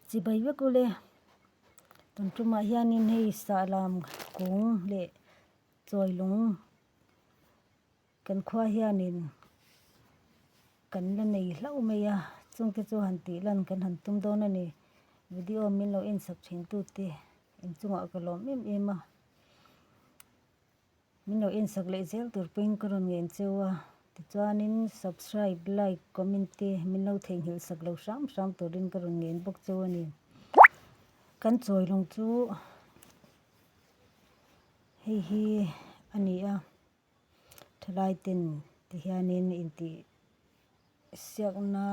chibai vek ule kan tumah hianin hei sahlam kung leh chawilung kan khua hianin kan la nei hlauh mai a chungte chu han tih lan kan han tum dawn a ni video min lo en chhap thin tute inchungah ka lawm em em a. Min lo en sak leh zel tur puiin ka rawn ngem che u a, tichuanin subscribe, like, comment te min lo theihnghilh sak lo hram hram turin ka rawn ngem bawk che u a ni. Kan chawilawng chu hei hi a ni a, thalaiten ti hianin intih siakna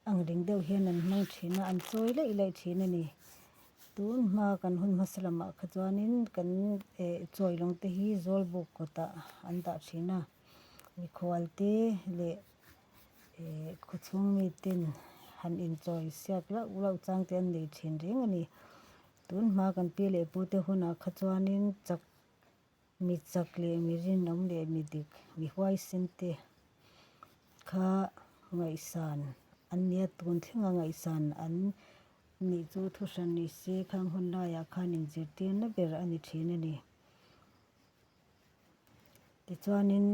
Ang ding deuh hian an hmang thin a, an chawi laih laih thin a ni. Tun hma kan hun hmasa lamah kha chuanin kan chawi lawng te hi zawlbuk kawtah an dah thin a, mikhual te leh khawchhung mi ten han inchawi siak lauh lauh chang te an nei thin reng a ni. Tun hma kan pi leh pu te hunah kha chuanin chak. Mi chak leh mi rinawm leh mi dik, mi huaisen te kha ngaihsan an ni a, tun thlenga ngaihsan an nih chu thu hran ni se, khang hun laiah khan inzirtirna ber a ni thin a ni. Tichuanin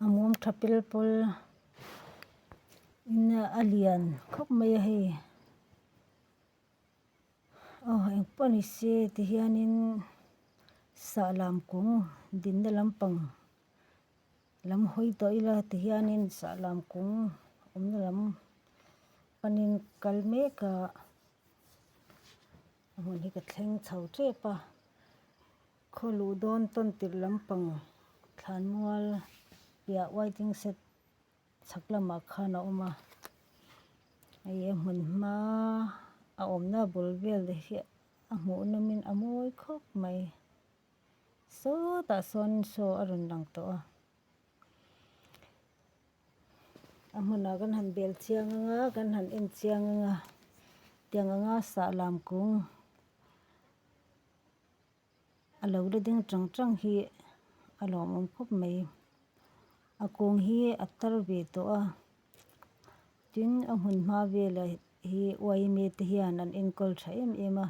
A mum tha pel pawl in a lian khawp mai a hei. Aw eng pawh a ni se ti hianin sah lam kung dinna lampang lam hawi tawh ila ti hianin sah lam kung awmna lam panin kal mek a, a hmun hi ka thleng chho tep a. Khaw luh dawn tawn tirh lampang thlan mual piah waiting shed chhak lamah khan a awm a, hei a hmun hma a awmna a bul vel leh hi a hmuh nawmin a mawi khawp mai. Sawtah sawn saw a rawn lang tawh a. A hmunah kan han bel chiang ang a, kan han en chiang ang a, tiang anga sah lam kung a lo la ding ṭang ṭang hi a lawmawm khawp mai. A kung hi a tar ve tawh a, tin a hmun hma velah hi uaime te hian an enkawl ṭha em em a.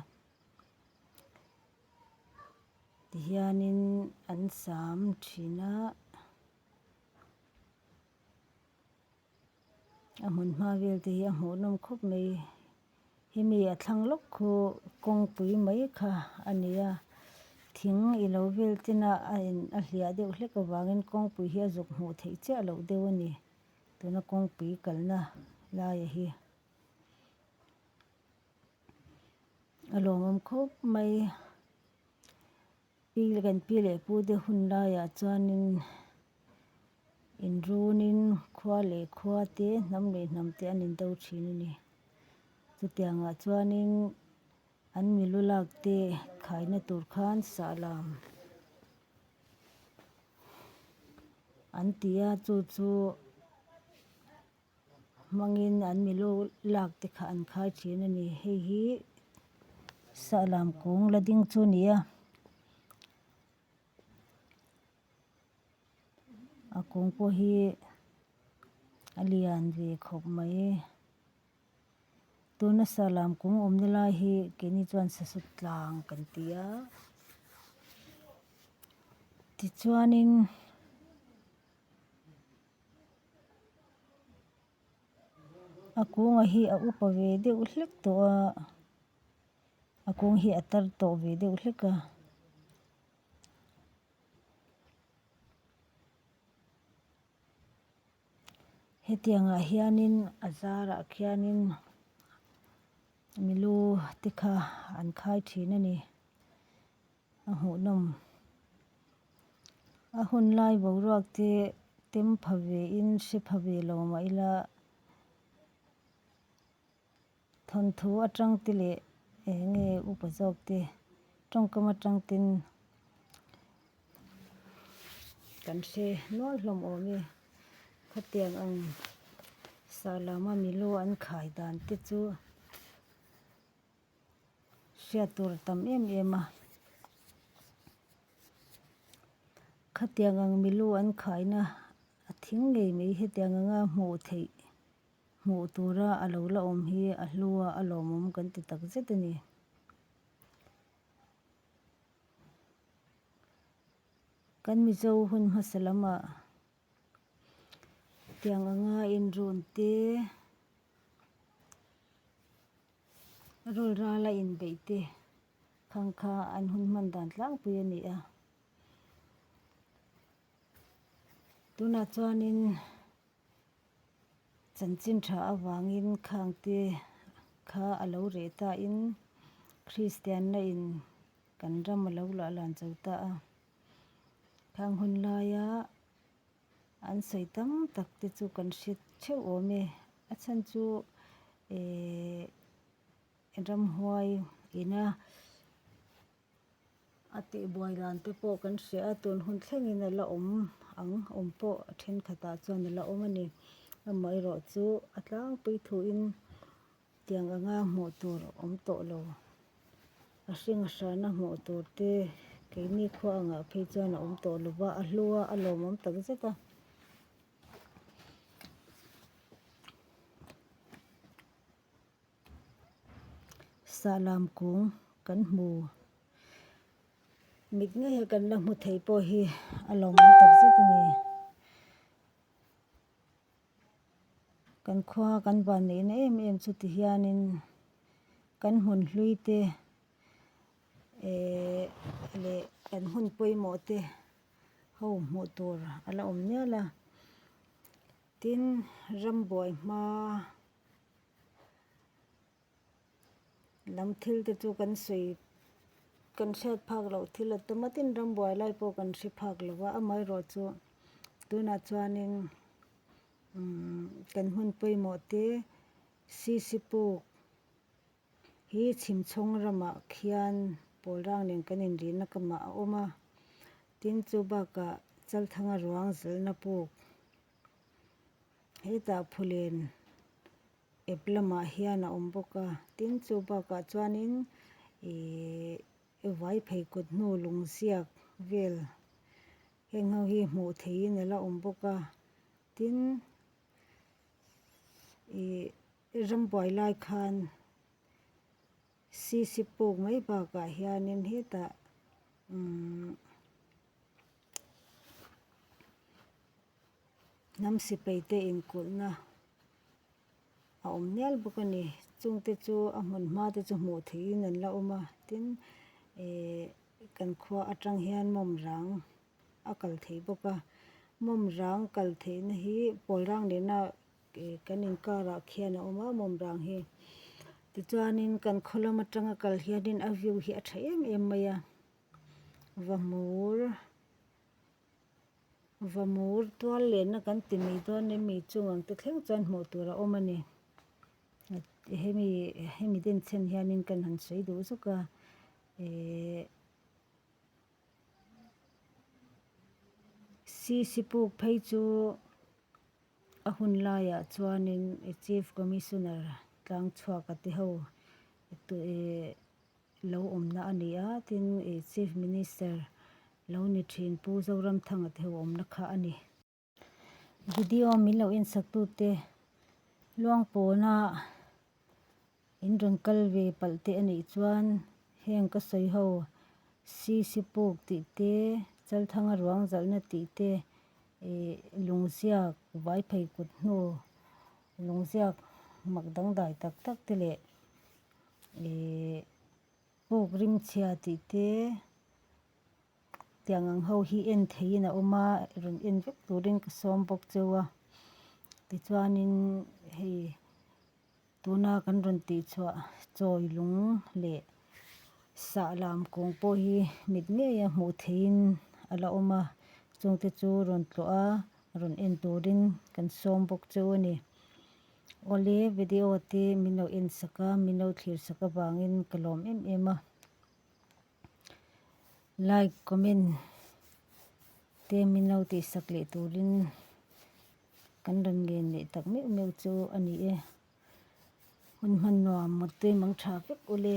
Tihianin an sâm ṭhin a. A hmun hma vel te hi a hmuh nawm khawp mai. Hi mi a thlang lawk khu kawngpui mai kha a ni a. Thing ilo vel chin a a in a hliah deuh hlek avangin kawngpui hi a zuk hmuh theih chiah loh deuh a ni. Tuna kawngpui kalna laia hi a lawmawm khawp mai. Kan pi leh pu te hun laiah chuanin inrunin khua leh khua te, hnam leh hnam te an indo thin a ni. Chutiangah chuanin an milu lakte khaina tur khan sahlam an ti a, chu chu. hmangin an mi lo lak te kha an khai thin a ni. Hei hi Sahlam kung la ding chu a ni a, a kung pawh hi a lian ve khawp mai. Tuna Sahlam kung awmna lai hi keini chuan Sasutlang kan ti a. Tichuanin. a kûnga hi a upa ve deuh hlek tawh a, a kûng hi a tar tawh ve deuh hlek a. Hetiangah hianin a zârah khianin milu tikha an khai ṭhîn a ni. A hmuhnawm a hun lai boruak te tem pha ve in hre pha ve lo mah ila thawnthu atang te leh eng nge upa zawk te tawngkam atang ten kan hre nual hlawm awm e. Khatiang ang Salama milu an khai dan te chu. hriat tur tam em em a. Khatiang ang milu an khaina a thing ngei mai hetiang anga hmuh theih hmuh tura a lo la awm hi a hlua a lawmawm kan ti tak zet a ni. Kan Mizo hun hmasa lamah. Tiang anga inrun te, rawlral a inbeih te phang kha an hun hman dan tlangpui a ni a. Tunah chuanin chanchin tha avangin khang te kha a lo reh tahin kristianna in kan ram a lo la lan chho ta a. Khang hun laia an sawi tam tak te chu kan hre theuh awm e. A chhan chu ehh ramhuai ina a tihbuai dan te pawh kan hre a, tun hun thlengin a la awm ang awm pawh a thenkhatah chuan a la awm a ni. Amaherawhchu a tlangpui thuin. Tiang anga hmuh tur awm tawh lo. A hringahrahna hmuh tur te keini khua angah phei chuan a awm tawh lo va, a hlu a, a lawmawm tak zet a. Sahlam kung kan hmu mit nge hi kan la hmu thei pawh hi a lawmawm tak zet a ni. Kan khua kan van neihna em em chu ti hianin kan hun hlui te eehh leh kan hun pawimawh te ho hmuh tur a la awm nual a tin rambuai hmaa. Lam thil te chu kan sawi kan hriat phak loh thil a tuma tin ram buai lai pawh kan hre phak lo va amaherawh chu tunah chuanin umm kan hun pawimawh te sisipuk hi chhim chhawng ramah khian Pawlrang nen kan inrihna kamah a awm a tin chu bakah Chalthanga ruang zalna puk-- Hetah phulen ep lamah hian a awm bawk a tin chu bakah chuanin ihh vai phei kut hnu lung ziak vel heng ho hi hmuh theihin a la awm bawk a tin ihh rambuai lai khan sisip puk mai bakah hianin hetah umm-- Hnam sipai te in kulhna a awm hmel bawk a ni. Chung te chu a hmun hma te chu hmuh theih in an la awm a tin ihh kan khua atang hian mawmrang a kal thei bawk a. Mawmrang kal theih na hi Pawlrang leh na ihh kan in kar ah khian a awm a mawmrang hi. Tichuan in kan khaw lam atang a kal hian in a view hi a tha em em mai a. va mur va mur tual lehna kan ti mai dawn a mi chung ang te thleng chuan hmuh tur a awm a ni hemi hemi den chhen hianin kan han sawi duh zuk a ihh sisipuk phei chu a hun laiah chuanin chief commissioner tlang chhuak a te ho tih-- lo awmna a ni a, tin Chief Minister lo ni thin Pu Zoramthanga te ho awmna kha a ni. Video min lo en sak tu te luang pawn a in rawn kal ve palh te a nih chuan heng ka sawi ho si sipuk tih te Chalthanga ruangzalhna tih te ih lungziak vai phei kut hnu lungziak mak dangdai tak tak te leh Huk rimchhia tih te tiang ang ho hi en theihin a awm a, rawn en vek turin ka sawm bawk cheu a. Tichuanin hei tuna kan rawn tih chhuah chawi lung leh sah lam kung pawh hi mit ngeia hmuh theihin a la awm a, chungte chu rawn tlawha rawn en turin kan sawm bawk cheu a ni. Awle, video te min lo en sak a, min lo thlir sak avangin ka lawm em em a. Like, comment te min lo tih sak leh turin kan rawn ngen leh tak meuh meuh chu a ni e. Hun hman nuam mawttuim ang tha vek ule.